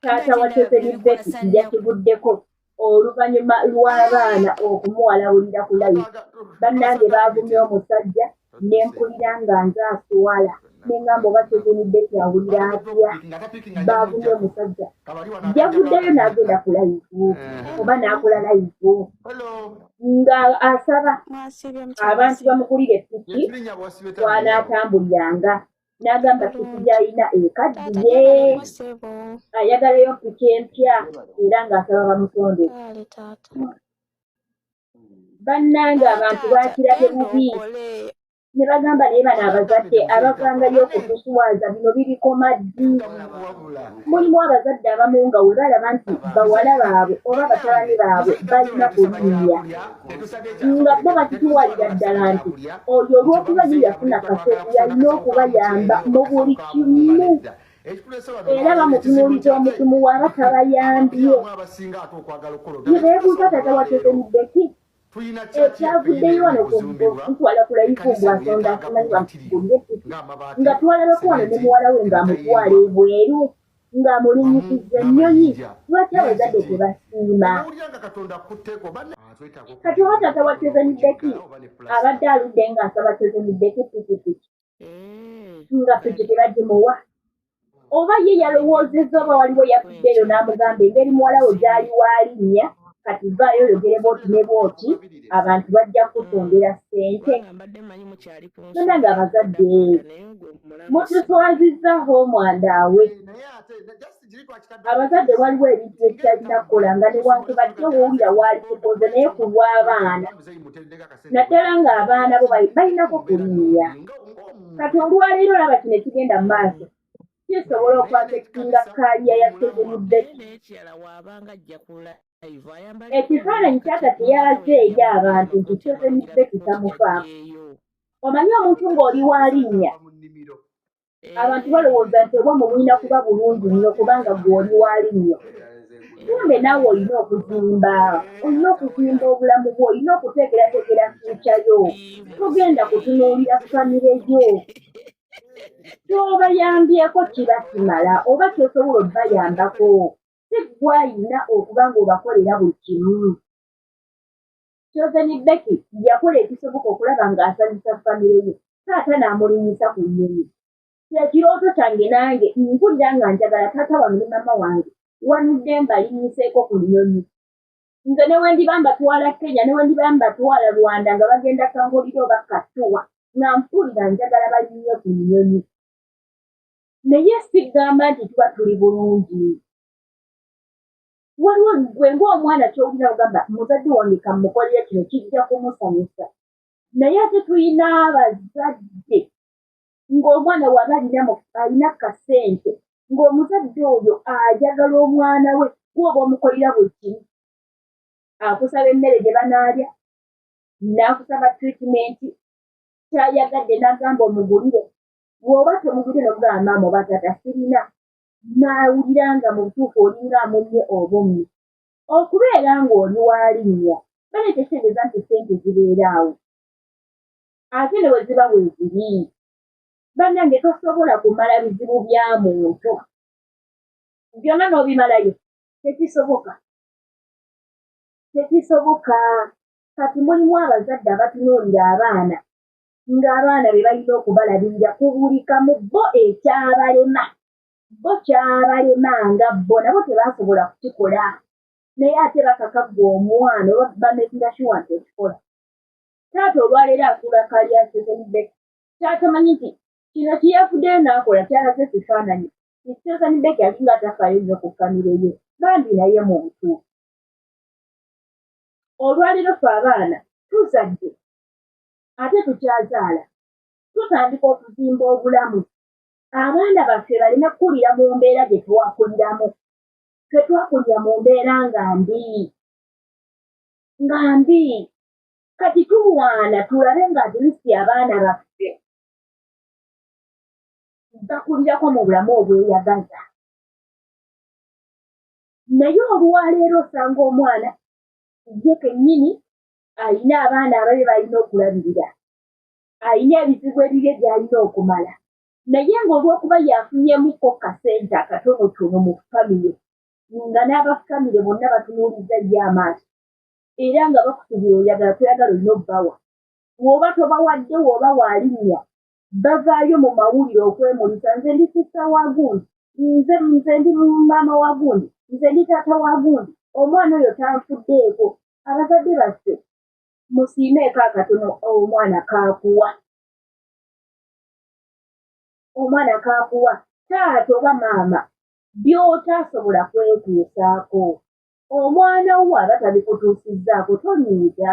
taata wa teperi beti yakiguddeko oluvannyuma lw'abaana okumuwalawulira ku layi bannange baavumye omusajja ne mpulira nga nze asuwala ne ngamba oba teperi beti awulira atya baavumye omusajja yavuddeyo n'agenda ku layivu eh. oba n'akola layivu nga asaba abantu bamukulire piki kwanaatambuliranga n'agamba piki gy'alina ekaddiye ayagalayo piki empya era ng'asaba bamutonde bannanga abantu bakirabye bubi ne bagamba naye bano abazadde abavangayo okutuswaza bino birikoma ddi mulimu abazadde abamu nga we balaba nti bawala baabwe oba batabani baabwe balina kulinya nga bo bakituwalira ddala nti oyo olw'okuba ye yafuna kase yalina okubayamba mu buli kimu era bamutunuuliza omutumu waba tabayambye ye beebuuza tata watezemuddeki ekyavuddeyo wano kutwala ku layifu mbu asonda afunayo bamugulire nga twalabako wano ne muwala we ng'amutwala ebweru nga mulinyisiza ennyonyi lwaki abazadde tebasiima kati oba tata wa tezemideki abadde aludde nga asaba tezemideki pikipiki eh. nga piki tebagimuwa oba ye yalowoozezza oba waliwo yafuddeeyo n'amugamba engeri muwala we gyali waalinnya kati vaayo oyogere bwoti ne bwoti abantu bajja kukutundira ssente tona nga abazadde mutuswaziza homwanda awe abazadde waliwo ebintu ekitalina kukola nga newankubadde owulira waali kukoze naye ku lw'abaana naddala ng'abaana bo balinako kulinya kati olwaleero olaba kino ekigenda mu maaso kisobola okwatekinga kaliya ya segumudeki ekifaananyi kyata teyalaze eri abantu nti segumudeki tamufaamu omanyi omuntu ng'oli wa linnya abantu balowooza nti oba mubulina kuba bulungi nnyo kubanga gw'oli wa linnya kumbe naawe olina okuzimba olina okuzimba obulamu bwo olina okuteekerateekera fuukyayo togenda kutunuulira famire yo kyobayambyeko kiba kimala oba kyosobola obayambako si gwayina okuba ngaobakolera buli kimu kyozeni beki yakola ekisoboka okulaba ngaasanyusa famire ye taata naamulinyisa ku nyonyi kyekirooto kyange nange mpulira nga njagala taata wange ne mama wange wanudde mbalinyiseeko ku nyonyi nze newendiba mbatwala kenya newendiba mbatwala rwanda nga bagenda kangolira oba katuwa nga mpulira njagala balinye ku nyonyi naye sigamba nti tuba tuli bulungi waliwo gwe ngaomwana kyowulira ogamba muzadde wange kamukolera kino kijja kumusanyusa naye ate tulina abazadde ng'omwana waba alina alina kasente ng'omuzadde oyo ajagala omwana we kuoba omukolera buli kimu akusaba emmere gye banaalya n'akusaba tritimenti kyayagadde n'agamba omugulire bw'oba tomugulire nomugamba maama oba taata sirina n'awulira nga mu butuufu olinga amunye obummi okubeera ng'oli walinnya bale tekitegeeza nti sente zibeeraawo ate ne bwe ziba weeziri bannange tosobola kumala bizibu bya muntu byonna n'obimalayo tekisoboka tekisoboka kati mulimu abazadde abatunuulira abaana ng'abaana be balina okubalabirira ku buli kamu bo ekyabalema bo kyabalema nga bo nabo tebasobola kukikola naye ate bakakagga omwana oba bamekira kiwa nti okikola taata olwaleero asuula kaliya sezenibek kyatamanyi nti kino kiyafuddeyo n'akola kyalaze kifaananyi nti sezenibek alinga atafaayo nnyo ku famire ye bambi naye mu butuufu olwaleero fe abaana tuzadde ate tukyazaala tutandika okuzimba obulamu abaana baffe baleme kukulira mu mbeera gye twakuliramu ffe twakulira mu mbeera nga mbi nga mbi kati tulwana tulabe nga atlist abaana baffe bakulirako mu bulamu obweyagaza naye olwaleero osanga omwana ye kennyini alina abaana ababe balina okulabirira alina ebizibu ebibye byalina okumala naye ng'olwokuba yafunyemukko kasente akatonotono mu famire nga n'abafamire bonna batunuuliza ye amaaso era nga bakukubira oyagala toyagala olina obbawa woba tobawadde woba waalinya bavaayo mu mawulire okwemulisa nze ndi sisa wa gundi nze nze ndi maama wa gundi nze ndi taata wa gundi omwana oyo tanfuddeeko abazadde baffe musiimeeko akatono omwana kaakuwa omwana kaakuwa taata oba maama by'otaasobola kwetuusaako omwana wo aba tabikutuusizzaako tonyiiga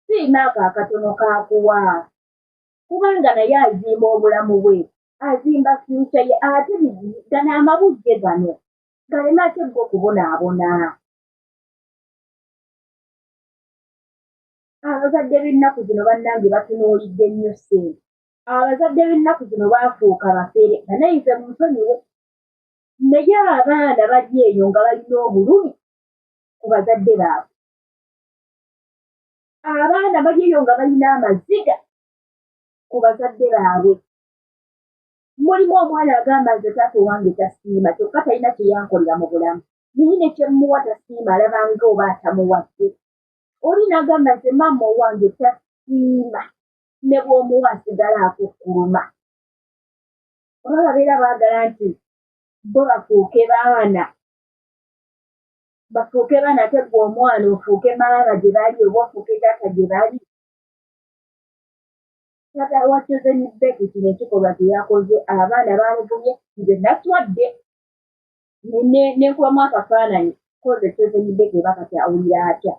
siina ako akatono kaakuwa kubanga naye azimba obulamu bwe azimba fyuca ye ate gano amabujje gano galeme ate gwe okubonaabona abazadde b'ennaku zino bannange batunuulidde nnyo ssente abazadde b'ennaku zino baafuuka bafere banayize munsonyiwe naye abaana bali eyo nga balina obulumi ku bazadde baabwe abaana bali eyo nga balina amaziga ku bazadde baabwe mulimu omwana agamba nze taata owange tasiima kyokka talina kyeyankolera mu bulamu naye nekyemuwa tasiima alabanga oba atamuwadde oli nagamba nze maama owange tasiima ne bwomuwa asigala akukuluma oba babeera baagala nti bo bafuuke baana bafuuke baana ate gwe omwana ofuuke maama gye bali oba ofuuke taata gye bali taata wacoze ni beki kino ekikolwa kye yakoze abaana bamuvumye nze naswadde nenkubamu akafaananyi koze coze ni beki oba kati awulira atya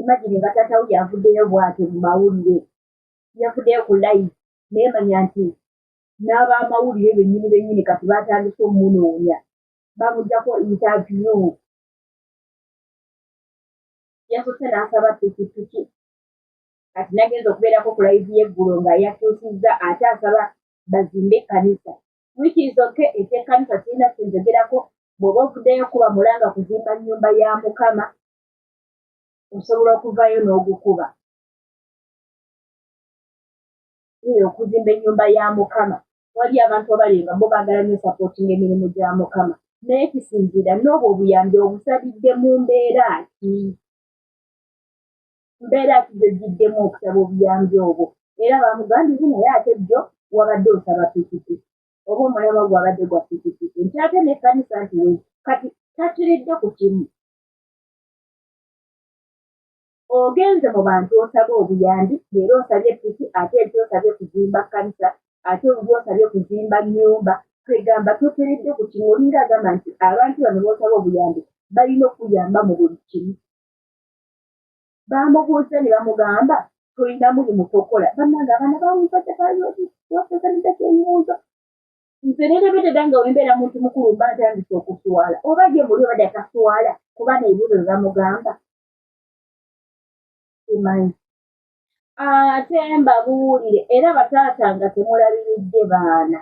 imagine nga taata wo yavuddeyo bwatyo mu mawulire yavuddeyo ku live naye manya nti n'abamawulire bennyini bennyini kati baatandise omunoonya bamujjako interview yasose n'asaba pikipiki kati nagenza okubeerako ku layivu y'eggulo nga yakyusizza ate asaba bazimbe ekkanisa wikiizoke ekyekkanisa kirina kyenjogerako bw'oba ovuddeyo kuba mulanga kuzimba nnyumba ya mukama osobola okuvayo n'ogukuba okuzimba ennyumba ya mukama wali abantu abali nga bo baagala nyo sapootinga emirimu gya mukama naye kisinziira n'obwo obuyambi obusabidde mu mbeera ki mbeera ki gyogiddemu okusaba obuyambi obwo era bamugambire naye ate jjo wabadde osaba pikipiki oba omulaba gwabadde gwa pikipiki nti ate nekkanisa nti kati takiridde ku kimu ogenze mu bantu osaba obuyambi leero osabye piki ate enti osabye kuzimba kanisa ate olubi osabye kuzimba nyumba kwegamba tukeredde ku kimu olinga agamba nti abantu bano bosaba obuyambi balina okuyamba mu buli kimu bamubuuza ne bamugamba tolina mulimu tokola bannange abaana bamuzaja bayoiwasasanidako ebibuuzo nze nerebededa nga wembeera muntu mukulu mba ntandisa okuswala oba gye muli obadde taswala kuba nebibuuzo bebamugamba simanyi ate mbabuulire era bataata nga temulabiridde baana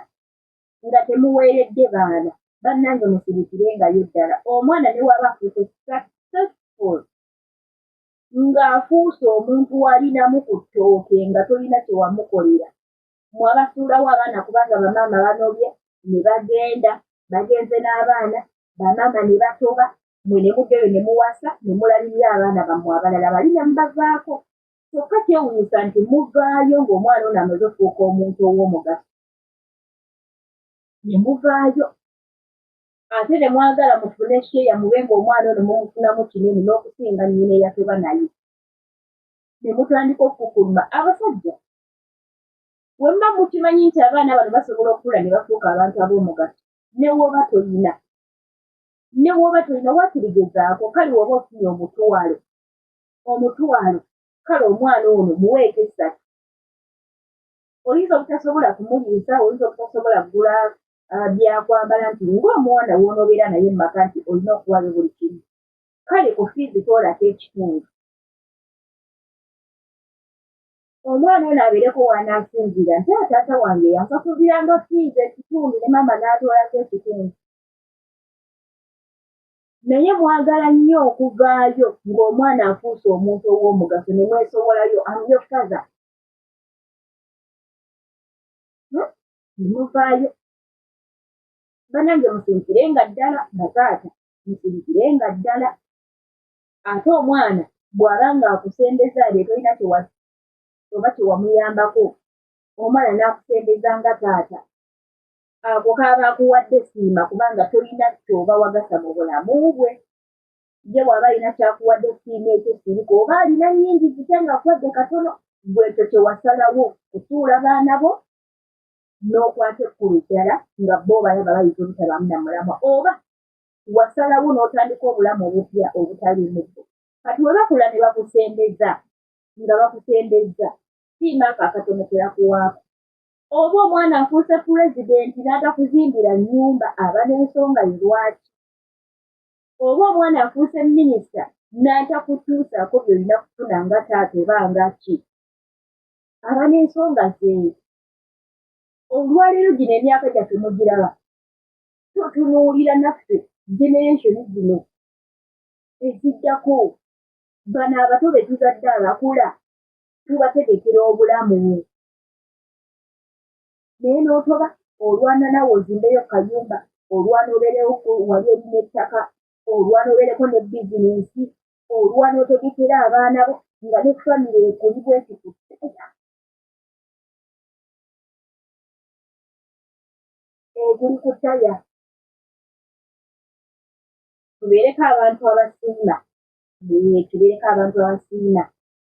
nga temuweeredde baana bannange musirikire ngayo ddala omwana ne waba afuuse successful ng'afuuse omuntu walinamu ku ttooke nga tolina kyewamukolera mwabasuulawo abaana kubanga bamaama banobye ne bagenda bagenze n'abaana bamaama ne batoba mwe ne muddeyo ne muwasa ne mulabirira abaana bammwe abalala bali ne mubavaako kyokka kyewunyisa nti muvaayo ng'omwana ono amaze okufuuka omuntu ow'omugaso ne muvaayo ate ne mwagala mufune sheeya mube ng'omwana ono mumufunamu kinene n'okusinga nnyina eyatoba naye ne mutandika okukukuluma abasajja wemma mukimanyi nti abaana bano basobola okukula ne bafuuka abantu ab'omugaso ne woba tolina ne woba tolina wakirigezaako kale woba ofunye omutwalo omutwalo kale omwana ono muweeko essatu oyinza obutasobola kumuliisa oyinza obutasobola kugula ah, byakwambala nti ngaomuwana wonoobeera naye mu maka nti olina okuwayo buli kimu kale ku fiizi toolako ekitundu omwana ono abeereko waanaasinziira nti ataata wange yansasuliranga fiizi ekitundu ne maama n'atoolako ekitundu naye mwagala nnyo okuvaayo ng'omwana afuuse omuntu ow'omugaso ne mwesowolayo amyo faza hmm? muvaayo banange musirikire nga ddala bataata musirikire nga ddala ate omwana bw'aba ng'akusembeza ebyo tolina oba kyewamuyambako omwana n'akusembeza nga taata ako kaaba akuwadde siima kubanga tolina kyoba wagasa mu bulamu bwe ye bw'aba alina kyakuwadde siima ekyo sirika oba alina nnyingi zitya nga akuwadde katono gwekyo kyewasalawo kusuula baana bo n'okwata ekkulu ddala nga bo balaba bayinza obutabaamu na mulamwa oba wasalawo n'otandika obulamu obupya obutalimuko kati we bakula ne bakusembeza nga bakusembeza siima ako akatono ke bakuwaako oba omwana afuuse pulezidenti n'atakuzimbira nnyumba aba n'ensonga ye lwaki oba omwana afuuse minisita n'atakutuusaako byolina kufuna nga taata oba nga ki aba n'ensonga ze olwaleero gino emyaka gyaffe mugiraba totunuulira naffe generation zino eziddako bano abato be tuzadde abakula tubategekera obulamu naye n'otoba olwana nawe ozimbeyo kayumba olwana obeerewo wali olina ettaka olwana obeereko ne bizinensi olwana otegekera abaana bo nga ne famire ekuli bwekiku eguli ku taya tubeereko abantu abasinga tubeereko abantu abasinga